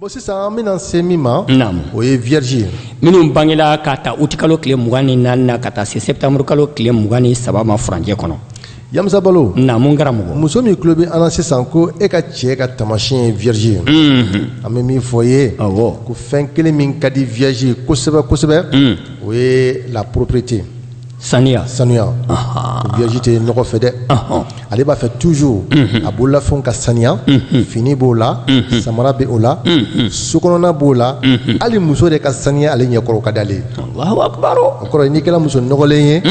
Bon sisan an bɛna se min ma o ye vierge minnu bangela ka ta uti kalo tile mugan ni naani ka taa se se tanmuruuru kalo tile mugan ni saba ma furucɛ kɔnɔ a muso bolo n'a kɛra mɔgɔ muso min tulo bɛ an na sisan ko e ka cɛ ka tamasiɲɛ ye vierge ye an bɛ min fɔ ye ko fɛn kelen min ka di vierge kosɛbɛ kosɛbɛ o ye la propreté saniya saniya vierge tɛ nɔgɔ fɛ dɛ ale b'a fɛ toujours a bololafɛnw ka saniya fini b'o la samara bɛ o la so kɔnɔna b'o la hali muso de ka saniya ale ɲɛkɔrɔ ka d'ale ye Alahu akbar o kɔrɔ n'i kɛra muso nɔgɔlen ye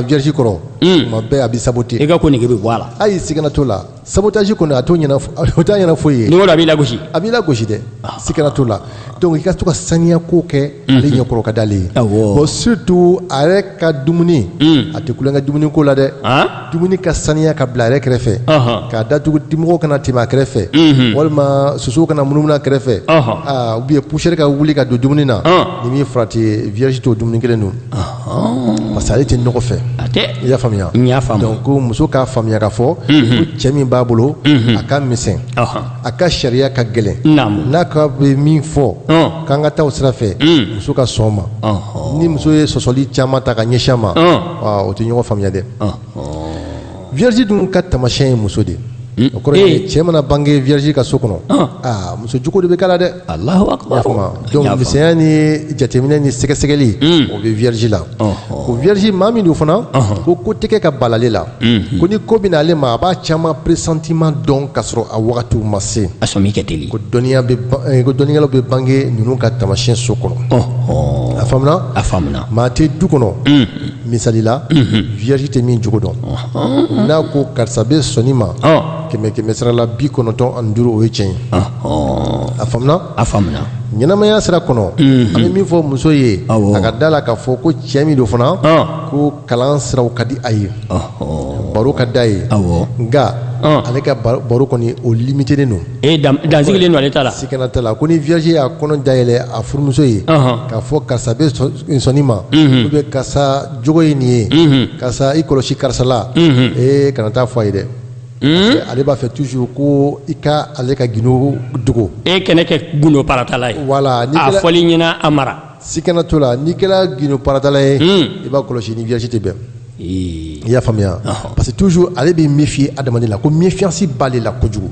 vierge kɔrɔ tuma bɛɛ a b'i saboter i ka ko nege bɛ bɔ a la hali siga t'o la sabotage kɔni o t'a ɲɛna foyi ye n'o a b'i lagosi a b'i lagosi dɛ ah. sikana t'o la donc i ka to ka saniya ko kɛ mhm. ale ɲɛkɔrɔ ka d'ale ye bon surtout a yɛrɛ ka dumuni mm. a tɛ tulon kɛ dumuni ko la dɛ ah? dumuni ka saniya ka bila a yɛrɛ kɛrɛfɛ k'a datugu dimɔgɔw kana tɛmɛ a kɛrɛfɛ mhm. walima sosow kana munumunu a kɛrɛfɛ ah, ou bien poussière ka wuli ka don dumuni na n'i ma farati vierge t'o dumuni kelen dun Parce que ale tɛ nɔgɔ fɛ i y'a faamuya y'a faamuya donc muso k'a faamuya k'a fɔ ko cɛ min b'a bolo a ka misɛn a ka sariya ka gɛlɛn n'a ka bɛ min fɔ k'an ka taa o sira fɛ muso ka sɔn ma ni muso ye sɔsɔli caman ta ka ɲɛsin a ma u tɛ ɲɔgɔn faamuya dɛ vierge ninnu ka tamasiyɛn ye muso de ye o kɔrɔ ye cɛ mana bange vierge ka so kɔnɔ aa muso jogo de bɛ k'a la dɛ Alahu akbar donc misɛnya ni jateminɛ ni sɛgɛsɛgɛli o bɛ vierge la o vierge maa min don fana ko ko tɛ kɛ ka bala ale la ko ni ko bɛ na ale ma a b'a caman pressentiment dɔn ka sɔrɔ a wagatiw ma se a sɔmi ka teli ko dɔnniya bɛ eh, ko dɔnnikɛlaw bɛ bange ninnu ka tamasiyɛn so kɔnɔ a faamuna a faamuna maa tɛ du kɔnɔ misali la vierge tɛ min jogo dɔn n'a ko karisa bɛ sɔn nin ma kɛmɛ kɛmɛ sira la bi kɔnɔntɔn ani duuru o ye tiɲɛ ye a faamuna a faamuna ɲɛnamaya sira kɔnɔ an bɛ min fɔ muso ye a ka da la k'a fɔ ko cɛ min don fana ko kalan siraw ka di a ye baro ka d'a ye nka ale ka baro kɔni o limitelen don a dansigilen don ale ta la sikana t'a la ko ni vierge y'a kɔnɔ dayɛlɛ a furumuso ye k'a fɔ karisa bɛ sɔn nin ma u bɛ karisa jogo ye nin ye karisa i kɔlɔsi karisa la e kana taa fɔ a ye dɛ ale b'a fɛ toujours ko i ka ale ka gundo dogo e kana kɛ gundo paratala ye wala fɔli ɲɛna a mara sikana t'o la n'i kɛra gundo paratala ye i b'a kɔlɔsi i ni vierge tɛ bɛn i y'a faamuya parce que toujours ale bɛ méfier adamaden la ko méfiance b'ale la kojugu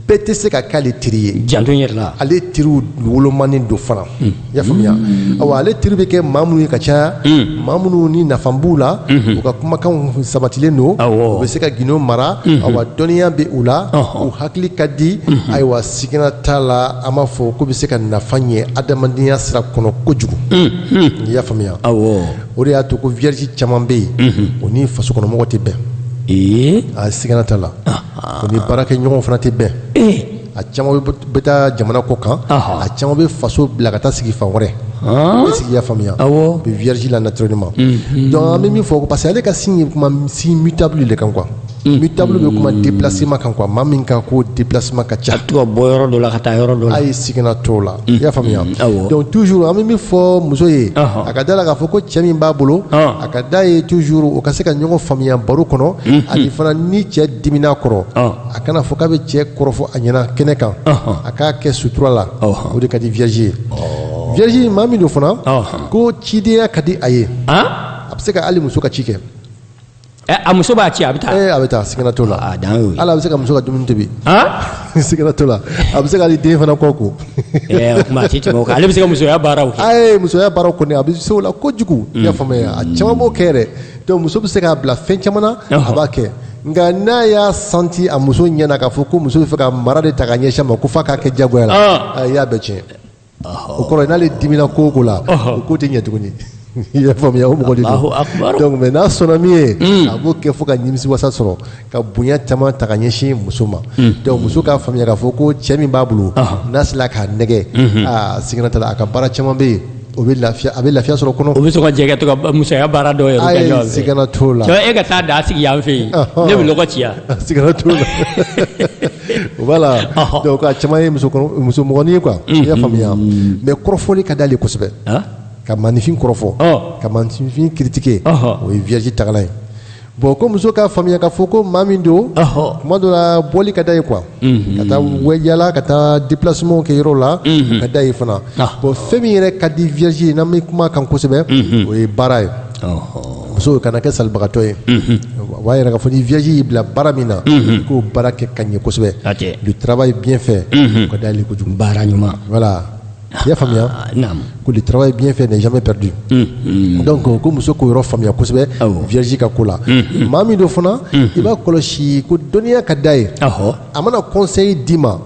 bɛɛ tɛ se ka k'ale teri ye janto yɛrɛ la ale teriw wolomanen don fana hmm. i y'a faamuya hmm. awa ale teri bɛ kɛ maa minnu ye ka caya hmm. maa minnu ni nafa b'u la u ka kumakanw sabatilen don u bɛ se ka gindo mara awa dɔnniya bɛ u la u hakili ka di ayiwa sigana t'a la an b'a fɔ k'u bɛ se ka nafa ɲɛ adamadenya sira kɔnɔ kojugu i y'a faamuya o de y'a to ko vierge caman bɛ yen o ni faso kɔnɔmɔgɔ tɛ bɛn ee a sigana t'a la o ni baarakɛɲɔgɔn fana tɛ bɛn ee a caman bɛ bɛ taa jamana kɔkan Ɔhɔ. a caman bɛ faso bila ka taa sigi fan wɛrɛ han i sigi y'a faamuya Awɔ. o bɛ vierge la naturellement donc an bɛ min fɔ parce que ale ka signe ye kuma signe mutable de kan quoi Mutable bɛ kuma déplacement kan quoi maa min ka ko déplacement ka ca ka bɔ yɔrɔ dɔ la ka taa yɔrɔ dɔ a ye sigana t'o la i y'a faamuya donc toujours an bɛ min fɔ muso ye a ka da la k'a fɔ ko cɛ min b'a bolo a ka d'a ye toujours u ka se ka ɲɔgɔn faamuya baro kɔnɔ ani fana ni cɛ dimina kɔrɔ a kana fɔ k'a bɛ cɛ kɔrɔfɔ a ɲɛna kɛnɛ kan a k'a kɛ sutura la o de ka di vierge ye vierge maa min don fana ko cidenya ka di a ye a bɛ se ka ali muso ka ci kɛ A muso b'a ci a bɛ taa a bɛ taa sigana t'o la ale bɛ se ka muso ka dumuni tobi sigana t'o la a bɛ se ka den fana kɔ ko ale bɛ se ka musoya baara a ye musoya baara kɔni a bɛ se o la kojugu i y'a faamuya a caman b'o kɛ dɛ donc muso bɛ se k'a bila fɛn caman na a b'a kɛ nka n'a y'a sentir a muso ɲɛna k'a fɔ ko muso b'a fɛ ka mara de ta ka ɲɛsin a ma ko f'a k'a kɛ jagoya la a y'a bɛɛ tiɲɛ o kɔrɔ n'ale dimina ko o ko la o ko tɛ ɲɛ tuguni i y'a faamuya o mɔgɔ de don mais n'a sɔnna min ye hmm. a b'o kɛ fo ka nimisiwasa sɔrɔ ka bonya caman ta ka ɲɛsin muso ma hmm. donc muso k'a faamuya k'a fɔ ko cɛ min b'a bolo n'a sera k'a nɛgɛn hmm. a sigana t'a la a ka baara caman bɛ yen o bɛ lafiya a bɛ lafiya sɔrɔ kɔnɔ u bɛ sɔn ka jɛ ka to ka musoya baara dɔw yɛrɛ kɛ ɲɔgɔn fɛ sigana t'o la e ka taa daga sigi yan fɛ yen ne bɛ lɔgɔ ci yan sigana t'o la Voilà ɔhɔ donc a caman ye musokɔrɔ musomɔgɔnin ye quoi i y'a faamuya mais kɔrɔfɔli ka d'ale kosɛbɛ Hein? ka maaninfin kɔrɔfɔ Ɔ. ka maaninfin critiquer Ɔhɔ. o ye vierge tagalan ye bon ko muso k'a faamuya k'a fɔ ko maa min don Ɔhɔ. tuma dɔ la bɔli ka d'a ye quoi ka taa wɛ- yaala ka taa déplacement kɛ yɔrɔw la o ka d'a ye fana Ah. bon fɛn min yɛrɛ ka di vierge ye n'an bɛ kuma a kan kosɛbɛ o ye baara ye muso kana kɛ salibagatɔ ye b'a yira k'a fɔ ni vierge y'i bila baara min na i k'o baara kɛ ka ɲɛ kosɛbɛ le travail bien fait o ka d'ale kojugu baara ɲuman voilà i y'a faamuya ko le travail bien fait n'est jamais perdu donc ko muso k'o yɔrɔ faamuya kosɛbɛ vierge ka ko la maa min don fana i b'a kɔlɔsi ko dɔnniya ka d'a ye a mana conseil d'i ma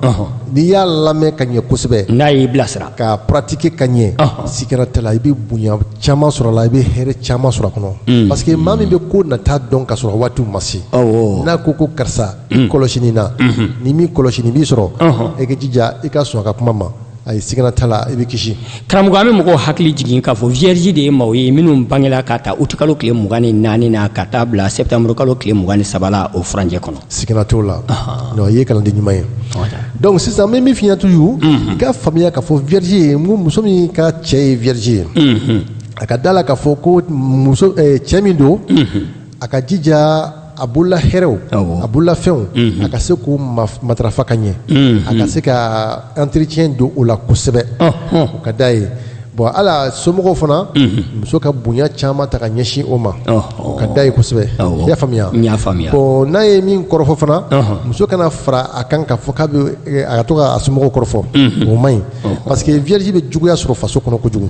n'i y'a lamɛn ka ɲɛ kosɛbɛ n'a y'i bilasira ka pratiquer ka ɲɛ sigana t'a la i bɛ bonya caman sɔrɔ a la i bɛ hɛrɛ caman sɔrɔ a kɔnɔ mm. parce que maa min bɛ ko nata dɔn ka sɔrɔ waatiw ma se n'a ko ko karisa mm. i kɔlɔsi nin na mm-hmm. n'i m'i kɔlɔsi nin b'i sɔrɔ i k'i jija i ka sɔn a ka kuma ma ayi sigana t'a la i bɛ kisi karamɔgɔ an bɛ mɔgɔw hakili jigin k'a fɔ vierge de ye maaw ye minnu bangela ka ta uti kalo tile mugan ni naani na ka taa bila septembre kalo tile mugan ni saba la o furancɛ kɔnɔ sigana t'o la non i ye kalanden ɲuman ye donc sisan n bɛ min f'i ɲɛna toujours i ka faamuya k'a fɔ vierge ye n ko muso min ka cɛ ye vierge ye a ka d'a la k'a fɔ ko muso eh, cɛ min don a ka jija a bolola hɛrɛw a bolola fɛnw a ka se k'u matarafa ka ɲɛ a ka se ka entretien don o la kosɛbɛ o ka d'a ye bɔn a la somɔgɔw fana muso ka bonya caman ta ka ɲɛsin o ma o ka d'a ye kosɛbɛ i y'a faamuya bɔn n'a ye min kɔrɔfɔ fana muso kana fara a kan k'a fɔ k'a bɛ a ka to ka a somɔgɔw kɔrɔfɔ o ma ɲi parce que vierge bɛ juguya sɔrɔ faso kɔnɔ kojugu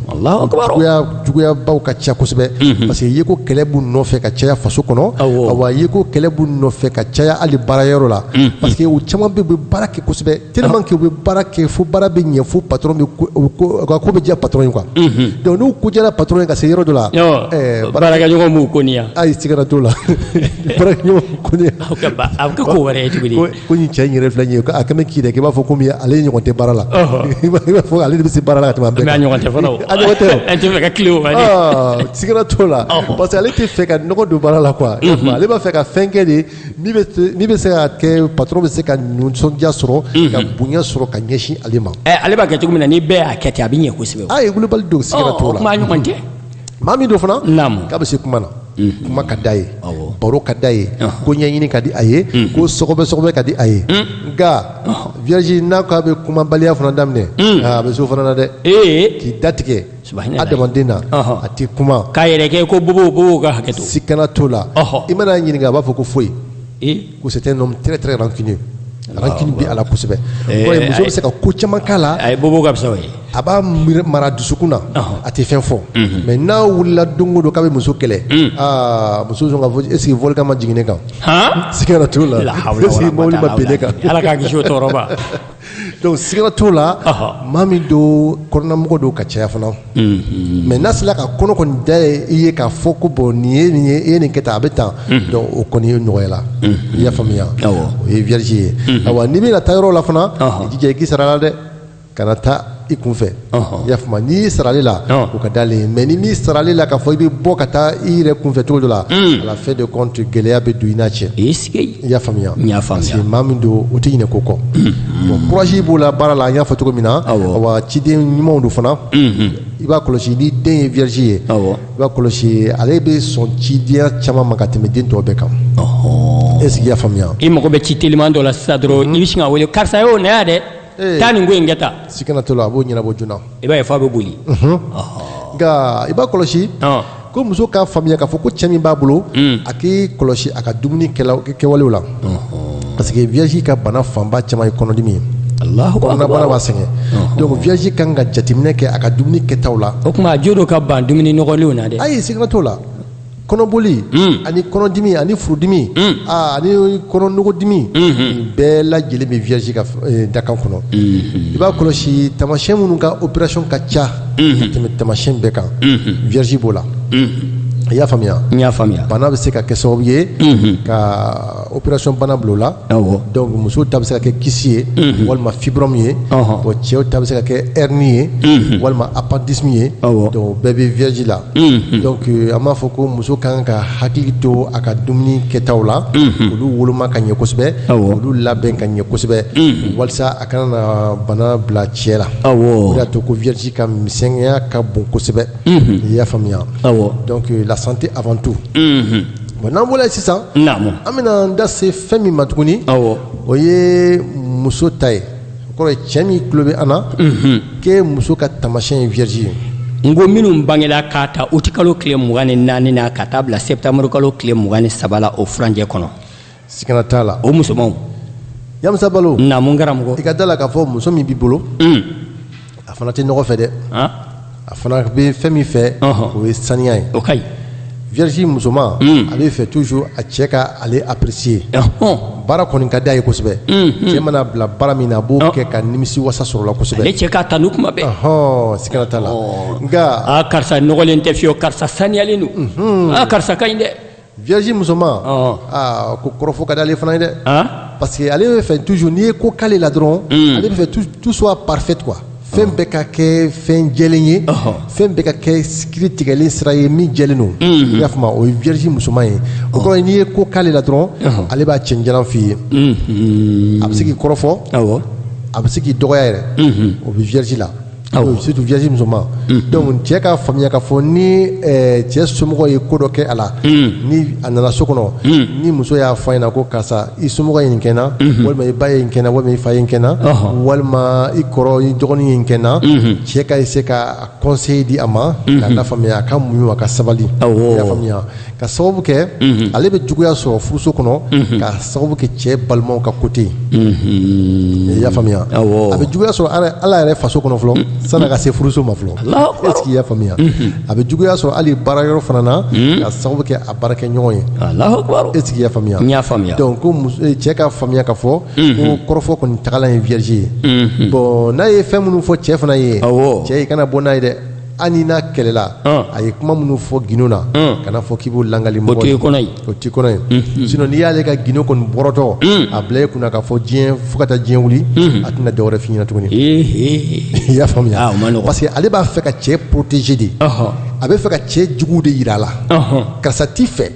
juguyabaw ka ca kosɛbɛ mhm. parce que ye ko kɛlɛ b'u nɔfɛ ka caya faso kɔnɔ awa ye ko kɛlɛ b'u nɔfɛ ka caya hali baara yɔrɔ la mhm. parce que u caman bɛ bɛ baara kɛ kosɛbɛ tellement que u bɛ baara kɛ fo baara bɛ ɲɛ fo patron bɛ u ka ko bɛ diya patron ye quoi mhm. donc n'u ko diyara patron ye ka se yɔrɔ dɔ la baarakɛɲɔgɔn b'u koniya ayi sigana t'o la baarakɛɲɔgɔn b'u koniya a bɛ kɛ ko wɛrɛ ye tuguni ko nin cɛ in yɛrɛ filɛ nin ye ko a kɛ bɛ k'i da k'i b'a fɔ komi ale ye ɲɔgɔn tɛ baara la i b'a fɔ ale de bɛ se baara la ka tɛmɛ an bɛɛ kan mais a ɲɔgɔn tɛ fana o a ɲɔgɔn tɛ o a tɛ fɛ ka tile o ma de sigana t'o la parce que ale tɛ fɛ ka nɔgɔ don baara la quoi ale b'a fɛ ka fɛn kɛ de min bɛ se- min bɛ se ka kɛ patron bɛ se ka nisɔndiya sɔrɔ ka bonya sɔrɔ ka ɲɛsin ale ma Ɛ, ale b'a kɛ cogo min na ni bɛɛ y'a kɛ ten a bɛ ɲɛ kosɛbɛ o. a ye wulibali don sigana Ɔ, t'o la kuma a ɲɔgɔn tɛ maa min don fana k'a bɛ se kuma na mhm. kuma ka d'a ye baro ka d'a ye ko ɲɛɲini ka di a ye mhm. ko sɔgɔbɛ sɔgɔbɛ ka di a ye mhm. nka vierge n'a ko a bɛ kumabaliya fana daminɛ a bɛ s'o fana na dɛ k'i datigɛ adamaden na a tɛ kuma k'a yɛrɛ kɛ ko bobo bobow ka hakɛ to sigana t'o la i man'a ɲininka a b'a fɔ ko foyi C'est un homme très très rancunier rancune b'a la kosɛbɛ muso bɛ se ka ko caman k'a la a ye bɔ ka fisa ye a b'a mara dusukun na a tɛ fɛn fɔ mais n'a wulila don o don k'a bɛ muso kɛlɛ aa muso est-ce que volcan ma jigin kan sigana t'o la a kan ala k' tɔɔrɔ Donc sigana t'o la maa min don kɔnɔnamɔgɔ don ka caya fana mais n'a sera k'a kɔnɔ kɔni da ye i ye k'a fɔ ko bɔn nin ye nin ye e ye nin kɛ taa a bɛ taa o kɔni ye nɔgɔya la i y'a faamuya o ye vierge ye awa n'i bɛna taa yɔrɔ la fana i jija i k'i sara a la dɛ kana taa i kun fɛ Ɔnhɔn, i y'a faamu wa? n'i sara ale la Ɔn. o ka d'ale ye mais n'i m'i sara ale la k'a fɔ i bɛ bɔ ka taa i yɛrɛ kunfɛ cogo dɔ la à la fin de compte gɛlɛya bɛ don i n'a cɛ i sigi i y'a faamuya N y'a faamuya. parce que maa min don o tɛ ɲinɛ ko kɔ bon courage b'o la baara la an y'a fɔ cogo min na Awɔ. wa ciden ɲumanw don fana i b'a kɔlɔsi n'i den ye vierge ye Awɔ. i b'a kɔlɔsi ale bɛ sɔn cidenya caman ma ka tɛmɛ den tɔw bɛɛ kan est ce que i y'a faamuya i mago bɛ ci teliman dɔ la sisan dɔrɔn i bɛ sin k'a wele karisa yo na yan dɛ taa nin ko in kɛ ta sigana t'o la a b'o ɲɛnabɔ joona i b'a ye f'a bɛ boli nka i b'a kɔlɔsi ko muso k'a faamuya k'a fɔ ko cɛ min b'a bolo a k'i kɔlɔsi a ka dumuni kɛwalew la parce que vierge ka bana fanba caman ye kɔnɔdimi ye kɔnɔnabana b'a sɛgɛn donc vierge kan ka jateminɛ kɛ a ka dumuni kɛtaw la o tuma a jo don ka ban dumuni nɔgɔlenw na dɛ ayi sigana t'o la kɔnɔboli ani kɔnɔdimi ani furudimi ani kɔnɔnɔgɔdimi bɛɛ lajɛlen bɛ vierge ka dakan kɔnɔ i b'a kɔlɔsi taamasiyɛn minnu ka opération ka ca ka tɛmɛ taamasiyɛn bɛɛ kan vierge b'o la i y'a faamuya y'a faamuya bana bɛ se ka kɛ sababu ye ka Opération bana bulon la donc musow ta bɛ se ka kɛ kyste ye walima fibrome ye cɛw ta bɛ se ka kɛ hernie ye walima appendice ye donc o bɛɛ bɛ vierge la donc an b'a fɔ ko muso ka kan k'a hakili to a ka dumuni kɛtaw la olu woloma ka ɲɛ kosɛbɛ olu labɛn ka ɲɛ kosɛbɛ walasa a kana na bana bila cɛ la y'a to ko vierge ka misɛnya ka bon kosɛbɛ i y'a faamuya donc la santé avant tout Bon n'an bɔra yen sisan. Naamu. An bɛna an da se fɛn min ma tuguni. Awɔ. O ye muso ta ye. O kɔrɔ ye cɛ min tulo bɛ an na. Unhun. K'e muso ka taamasiyɛn ye vierge ye. N ko minnu bangera k'a ta août kalo tile mugan ni naani na ka taa bila septembre kalo tile mugan ni saba la o furancɛ kɔnɔ. Sigana t'a la. O musomanw. Yamusa Balo. Naamu n karamɔgɔ. I ka d'a la k'a fɔ muso min b'i bolo. Un. a fana tɛ nɔgɔ fɛ dɛ a fana bɛ fɛn min fɛ o ye saniya ye o ka ɲi vierge musoman a b'a fɛ toujours a cɛ ka ale apprécier baara kɔni ka d'a ye kosɛbɛ cɛ man'a bila baara min na a b'o kɛ ka nimisiwasa sɔrɔ a la kosɛbɛ ale cɛ k'a tanu kuma bɛɛ sigana t'a la nka karisa nɔgɔlen tɛ fiyewu karisa saniyalen don karisa ka ɲi dɛ Vierge musoman aa ko kɔrɔfɔ ka d'ale fana ye dɛ parce que ale b'a fɛ toujours n'i ye ko k'ale la dɔrɔn ale b'a fɛ tout soit parfait quoi fɛn bɛɛ ka kɛ fɛn jɛlen ye fɛn bɛɛ ka kɛ kiri tigɛlen sira ye min jɛlen don i y'a faamu o ye vierge musoman ye o kɔrɔ n'i ye ko k'ale la dɔrɔn ale b'a cɛn jalan f'i ye a bɛ se k'i kɔrɔfɔ a bɛ se k'i dɔgɔya yɛrɛ o bɛ vierge la surtout vierge musoman donc cɛ ka faamuya ka fɔ ni cɛ somɔgɔ ye ko dɔ kɛ a la ni a nana so kɔnɔ ni muso y'a fɔ a ɲɛ na ko karisa i somɔgɔ ye nin kɛ n na walima i ba ye nin kɛ n na walima i fa ye nin kɛ n na walima i kɔrɔ i dɔgɔnin ye nin kɛ n na cɛ ka se ka conseil di a ma k'a lafaamuya a ka muɲu a ka sabali i y'a faamuya ka sababu kɛ ale bɛ juguya sɔrɔ furuso kɔnɔ ka sababu kɛ cɛ balimaw ka côté i y'a faamuya a bɛ juguya sɔrɔ hali a yɛrɛ faso kɔnɔ fɔlɔ sani a ka se furuso ma fɔlɔ est-ce que i y'a faamuya a bɛ juguya sɔrɔ hali baara yɔrɔ fana na ka sababu kɛ a baarakɛɲɔgɔn ye est-ce que i y'a faamuya donc cɛ ka faamuya ka fɔ ko kɔrɔfɔ kɔni tagala ye vierge ye bon n'a ye fɛn minnu fɔ cɛ fana ye cɛ i kana bɔ n'a ye dɛ ani n'a kɛlɛla a ye kuma minnu fɔ gundo na kana fɔ k'i b'o lagali mɔgɔ ye o ti kɔnɔ ye sin n'i y'ale ka gundo kɔni bɔrɔtɔ a bila e kun na ka fɔ diɲɛ fo ka taa diɲɛ wuli a tɛna dɔ wɛrɛ fɔ i ɲɛ na tuguni i y'a faamuya parce que ale b'a fɛ ka cɛ protéger de a bɛ fɛ ka cɛ jugu de jira a la karisa t'i fɛ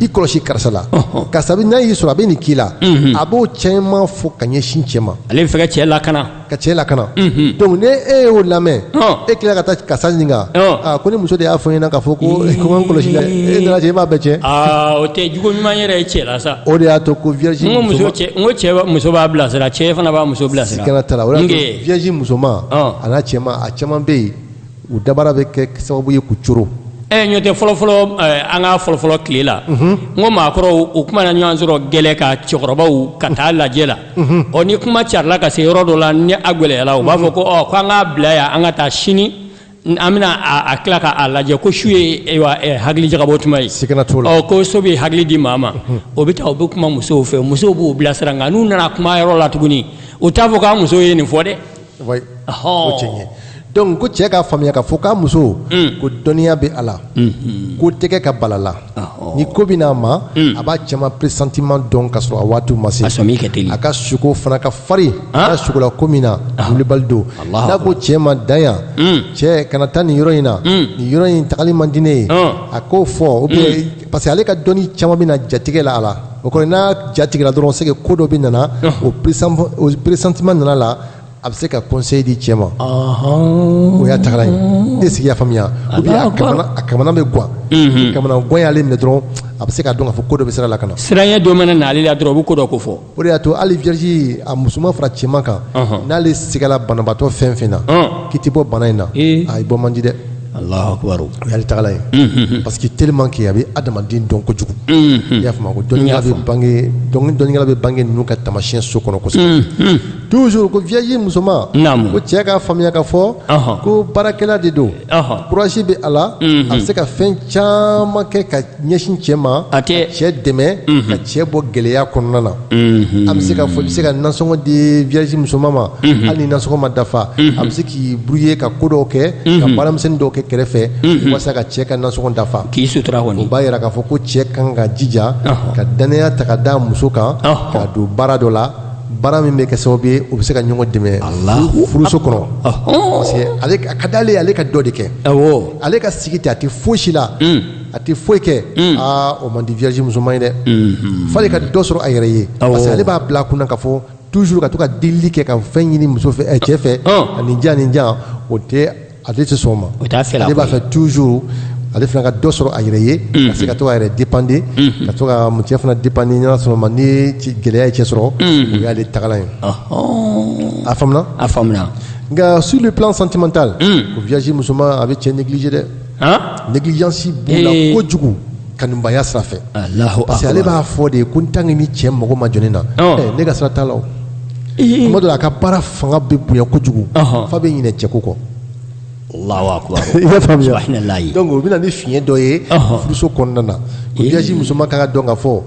i kɔlɔsi karisa la karisa n'a y'i sɔrɔ a bɛ nin k'i la a b'o caman fɔ ka ɲɛsin cɛ ma ale bɛ fɛ ka cɛ lakana ka cɛ lakana donc ni e y'o lamɛn e tila ka taa karisa ɲininka ko ne muso de y'a fɔ n ɲɛ na ka fɔ ko ko kɔlɔsi la e nana cɛ e b'a bɛɛ cɛ o tɛ jogo ɲuman yɛrɛ ye cɛ la sa o de y'a to ko vierge n ko muso cɛ n ko cɛ muso b'a bilasira cɛ fana b'a muso bilasira sigana t'a la o de y'a to vierge musoman a n'a cɛman a caman bɛ yen u dabara bɛ kɛ sababu ye ku coro ɛ ɲɔ tɛ fɔlɔfɔlɔ an ka fɔlɔfɔlɔ tile la n ko maakɔrɔw u mana ɲɔgɔn sɔrɔ gɛlɛ kan cɛkɔrɔbaw ka taa lajɛ la ɔ ni kuma carila ka se yɔrɔ dɔ la ni a gɛlɛyala u b'a fɔ ko ɔ ko an k'a bila yan an ka taa sini an bɛna tila k'a lajɛ ko su ye hakili jagabɔ tuma ye sigana t'o la ko su bɛ hakili di maa ma u bɛ taa u bɛ kuma musow fɛ musow b'u bilasira nka n'u nana kuma yɔrɔ la tuguni u t'a fɔ k'a muso ye nin fɔ dɛ donc ko cɛ ka faamuya ka fɔ k'a muso ko dɔnniya bɛ a la ko tɛ kɛ ka bala a la ni ko bɛ na a ma a b'a caman pressentiment dɔn ka sɔrɔ a waati ma se a ka suko fana ka farin a sukola ko min na wulibali don n'a ko cɛ ma dan yan cɛ kana taa nin yɔrɔ in na nin yɔrɔ in tagali man di ne ye a k'o fɔ o bɛ parce que ale ka dɔnni caman bɛna jatigɛ la a la o kɔrɔ n'a jatigɛra dɔrɔn c'est que ko dɔ bɛna na o pressentiment nana a la a bɛ se ka conseil di cɛ ma o y'a tagala ye est-ce que i y'a faamuya ou bien a kamana bɛ gan ni kamanagan y'ale minɛ dɔrɔn a bɛ se k'a dɔn k'a fɔ ko dɔ bɛ sira la ka na siranya dɔ mana na ale la dɔrɔn o bɛ ko dɔ kofɔ o de y'a to ale vierge a musoman fara cɛman kan n'ale sigala banabaatɔ fɛn o fɛn na k'i tɛ bɔ bana in na a bɔ man di dɛ Alahu akibaru o y'ale tagalan ye parce que tellement que a bɛ adamaden dɔn kojugu i y'a faamu dɔnikɛla bɛ bange dɔnikɛla bɛ bange ninnu ka taamasiyɛn so kɔnɔ kosɛbɛ toujours ko vierge musoman ko cɛ k'a faamuya ka fɔ ko baarakɛla de don kurasi bɛ a la a bɛ se ka fɛn caman kɛ ka ɲɛsin cɛ ma a bɛ cɛ dɛmɛ ka cɛ bɔ gɛlɛya kɔnɔna na an bɛ se ka fɔ i bɛ se ka nasɔngɔ di vierge musoman ma hali ni nasɔngɔ ma dafa a bɛ se k'i débrouiller ka ko dɔw kɛ ka baara misɛnnin dɔw kɛ kɛrɛfɛ walasa ka cɛ ka nasɔngɔ dafa k'i sutura kɔni u b'a jira k'a fɔ ko cɛ kan ka jija ka dannaya ta k'a da muso kan ka don baara dɔ la baara min bɛ kɛ sababu ye u bɛ se ka ɲɔgɔn dɛmɛ furuso kɔnɔ parce que a ka di ale ye ale ka dɔ de kɛ ale ka sigi ten a tɛ foyi si la a tɛ foyi kɛ aa o man di vierge musoman ye dɛ fo ale ka dɔ sɔrɔ a yɛrɛ ye parce que ale b'a bila kun na ka fɔ toujours ka to ka delili kɛ ka fɛn ɲini muso fɛ cɛ fɛ ani jan ni jan o tɛ Ale tɛ sɔn o ma a b'a fɛ toujours ale fana ka dɔ sɔrɔ a yɛrɛ ye ka se ka to k'a yɛrɛ dépanner ka to ka mu cɛ fana dépanner ɲɔgɔn sɔrɔ ma ni ci gɛlɛya ye cɛ sɔrɔ o y'ale tagalan ye a a faamuya nka sur le plan sentimental vierge musoman a bɛ cɛ négliger dɛ négligence b'o la kojugu kanubaya sira fɛ ale b'a fɔ de ye ko n tan ni cɛ mɔgɔ ma jɔn na ne ka sira t'a la kuma dɔ la a ka baara fanga bɛ bonya kojugu f'a bɛ ɲinɛ cɛko kɔ donc o bɛ na ni fiɲɛ dɔ ye furuso kɔnɔna na o vierge musoman ka kan ka dɔn ka fɔ ko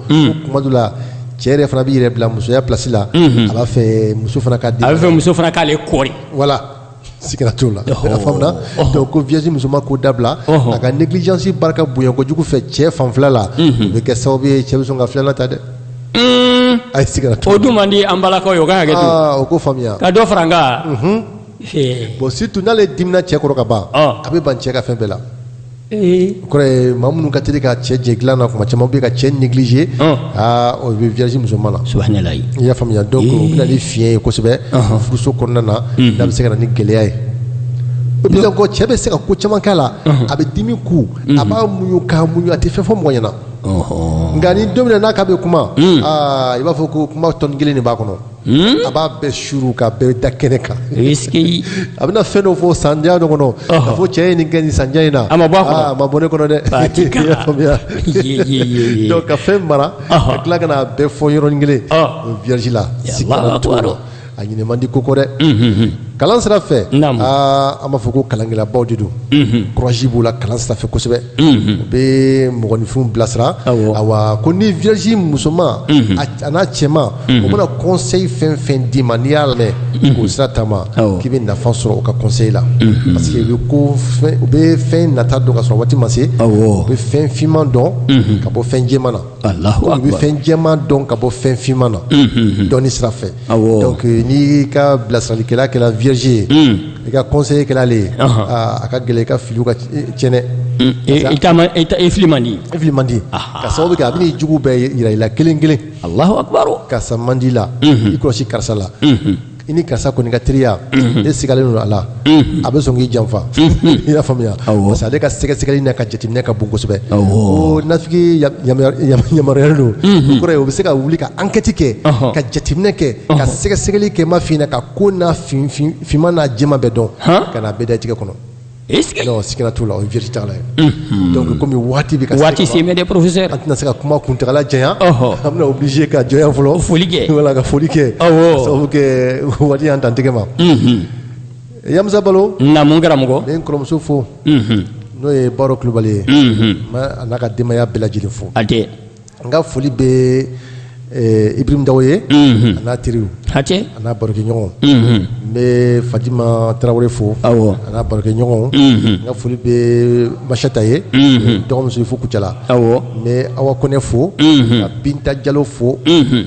kuma dɔ la cɛ yɛrɛ fana b'i yɛrɛ bila musoya place la a b'a fɛ muso fana ka a b'a fɛ muso fana k'ale kɔɔri voilà siga t'o la donc ko vierge musoman k'o dabila a ka négligence barika bonya kojugu fɛ cɛ fanfɛla la o bɛ kɛ sababu ye cɛ bɛ sɔn ka filanan ta dɛ a ye siga t'o la o dun man di an balakaw ye o ka hakɛ to aa u k'o faamuya ka dɔ fara a kan bon surtout n'ale dimina cɛ kɔrɔ ka ban a bɛ ban cɛ ka fɛn bɛɛ la kɔrɔ maa minnu ka teli ka cɛ jɛ dilan na tuma caman bɛ ka cɛ négliger aa o bɛ vierge musoman na i y'a faamuya donc o bɛ na ni fiɲɛ ye kosɛbɛ furuso kɔnɔna na da bɛ se ka na ni gɛlɛya ye o bɛɛ kɔ cɛ bɛ se ka ko caman kɛ a la a bɛ dimi kun a b'a muɲu k'a muɲu a tɛ fɛn fɔ mɔgɔ ɲɛna nka ni don min na k'a bɛ kuma i b'a fɔ ko kuma tɔn kelen de b'a kɔnɔ a b'a bɛɛ suuru k'a bɛɛ da kɛnɛ kan a bɛna fɛn dɔ fɔ san kɔnɔ k'a fɔ cɛ i ye nin kɛ nin san in na a ma bɔ ne kɔnɔ dɛ ka fɛn mara ka tila ka bɛɛ fɔ yɔrɔnin kelen vierge la a ɲinɛ man di ko kɔ dɛ kalan sira fɛ an b'a fɔ ko kalankɛlabaw de don courage b'u la kalan sira fɛ kosɛbɛ u bɛ mɔgɔninfin bilasira a ko ni vierge musoman a n'a cɛman u bɛna conseil fɛn fɛn d'i ma n'i y'a lamɛn k'o sira taama k'i bɛ nafa sɔrɔ u ka conseil la parce que u ko u bɛ fɛn nata dɔn ka sɔrɔ waati ma se u bɛ fɛn finman dɔn ka bɔ fɛn jɛma na u bɛ fɛn jɛma dɔn ka bɔ fɛn finman na dɔnni sira donc euh, n'i ka bilasiralikɛla kɛra vierge ye hmm. i ka conseiller kɛra ale ye ah, a ka gɛlɛn i ka filiw ka tiɲɛ dɛ hmm. i fili man di i fili man di ka sababu kɛ a bɛna i jugu bɛɛ yira i la kelen kelen alahu akibaru karisa man di la hmm. i kɔlɔsi karisa la i ni karisa kɔni ka teriya e sigalen don a la a bɛ sɔn k'i janfa i y'a faamuya parce ale ka sɛgɛsɛgɛli n'a ka jateminɛ ka bon kosɛbɛ ko nafiki yamaruya don kɔrɔ ye o bɛ se ka wuli ka ankɛti kɛ ka jateminɛ kɛ ka sɛgɛsɛgɛli kɛ ma fina ka ko n'a finman n'a jɛma bɛɛ dɔn ka na bɛɛ dantigɛ kɔnɔ e sigira t'u la o jiri ta ye dɔnku kɔmi waati bɛ waati porose k'an tɛna se ka kuma kuntaala jan an bɛ bilisi ka jɔn fɔlɔ foli kɛ ka foli kɛ sabu kɛ waati an dantigɛ ma yamisa balo na n karamɔgɔ n bɛ n kɔrɔmuso fo n'o ye baro kulubali ye a n'a ka denbaya bɛɛ lajɛlen fo hatɛ n ka foli bɛ ibirima dawo ye a n'a teri hatɛ a n'a barokɛ ɲɔgɔn n bɛ fajima tarawele fo a n'a barokɛ ɲɔgɔn n ka foli bɛ masata ye dɔgɔmuso fo kucala awɔ n bɛ awa kɔnɛ fo ka binta jalo fo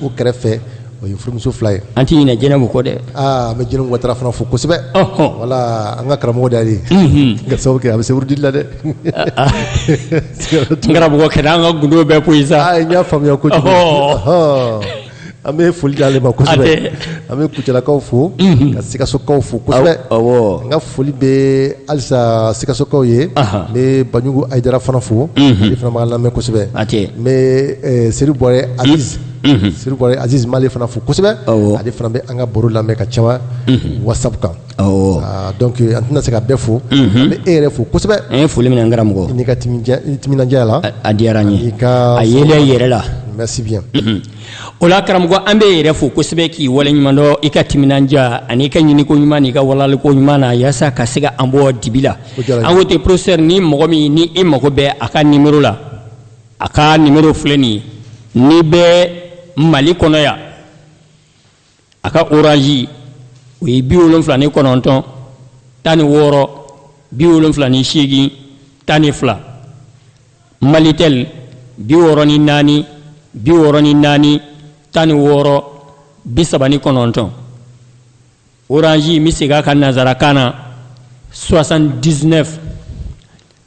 o kɛrɛfɛ o ye furumuso fila ye an tɛ ɲinɛ jɛnɛbu kɔ dɛ aa an bɛ jɛnɛbu watara fana fo kosɛbɛ ɔhɔn wala an ka karamɔgɔ de y'ale ye ka sababu kɛ a bɛ se wurudili la dɛ n karamɔgɔ kana an ka gundo bɛɛ fɔ u ye sa aa n y'a faamuya kojugu Ɔhɔɔ. Ɔhɔɔ. an bɛ foli d'ale ma kosɛbɛ Hatɛ. an bɛ kucalakaw fo ka sikasokaw fo kosɛbɛ Aw- awɔ. n ka foli bɛ halisa sikasokaw ye Aha. n bɛ baɲugu ayidara fana fo ale fana b'an lamɛn kosɛbɛ Hatɛ. n bɛ eh, seri bɔrɛ Aziz sirikɔrɔ Aziz n b'ale fana fo kosɛbɛ, awɔ, ale fana bɛ an ka baro lamɛn ka caya whatsapp kan, awɔ, ah, donc an tɛna se ka bɛɛ fo, an bɛ e yɛrɛ fo kosɛbɛ, an ye foli minɛ n karamɔgɔ, i n'i ka timinja timinandiya la, a diyara n ye, a yelen i yɛrɛ la, merci bien, o la karamɔgɔ an bɛ e yɛrɛ fo kosɛbɛ k'i waleɲumandɔn i ka timinandiya an'i ka ɲiniko ɲuman n'i ka walaliko ɲuman na yaasa ka se ka an bɔ dibi la, an ko ten professeur ni mɔgɔ min ni i mago bɛ a ka numéro la a ka nimero filɛ nin ye n'i bɛ mali kɔnɔ yan a ka oranzi o ye bi wolonfila ni kɔnɔntɔn tan ni wɔɔrɔ bi wolonfila ni seegin tan ni fila malitɛli bi wɔɔrɔ ni naani bi wɔɔrɔ ni naani tan ni wɔɔrɔ bi saba ni kɔnɔntɔn oranzi n bɛ segin a kan nanzarakan na 79